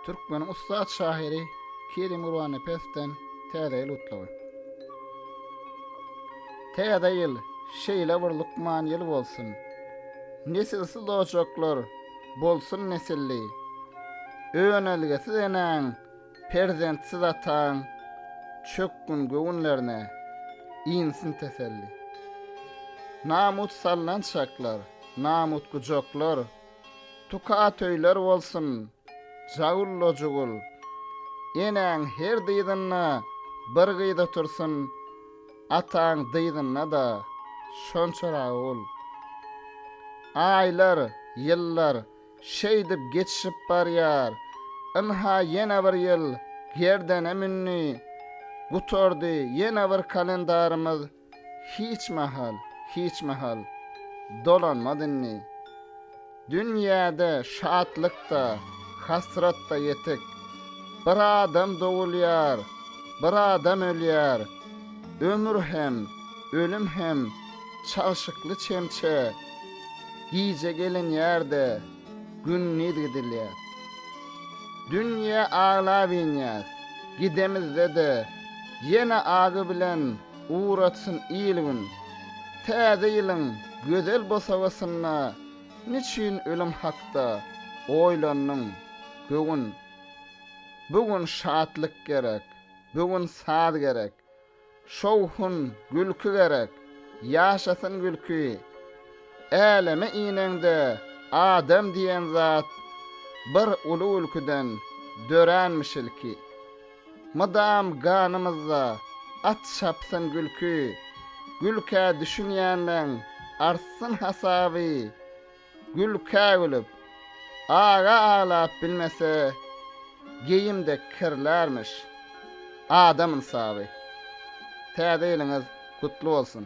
Türkmeniň ussat şahyry Kerim Gurbanepesden Täze ýyl gutlagy. Täze ýyl şeýle bir lukman ýyl bolsun, Nesilsiz ojaklar bolsun nesilli, Önelgesiz enäň, perzentsiz ataň, Çökgün göwünlerine insin teselli. Namut salnan çaklar, namut gujaklar, Tuka atöýler bolsun, Jagullojugul! Enäň her dyzynda bir gyz otursyn, ataň dyzynda-da şonçaragy ol. Aýlar, ýyllar şeýdip geçişip barýar. Ynha ýene bir ýyl gerdene mündi, gutardy ýene bir kalendarymyz. Hiç mahal, hiç mahal dolanmaz indi. Dünýäde şatlyk-da, hasrat-da ýetik. Bir adam dogulýar, bir adam ölýär. Ömür hem, ölüm hem çalşykly çemçe. Gije gelinýär-de, gündiz gidilýär. Dünýä aglap inýäs, gidemizde-de, ýene agy bilen Ugratsyn il-gün. Täze ýylyň gözel bosagasynda niçin ölüm hakda oýlandyň, göwün? Bu gün şatlyk gerek, bu gün saz gerek, şowhun, gülki gerek, ýaşasyn gülki! Äleme ineňde adam diýen zat bir uly gülkiden döränmiş ilki. Mydam ganymyzda at çapsyn gülki, Gülkä düşünýänleň artsyn hasaby. Gülkä gülüp, aga aglap bilmese, Geýim dek kirlärmiş adam ynsaby. Täze ýylyňyz gutly bolsun!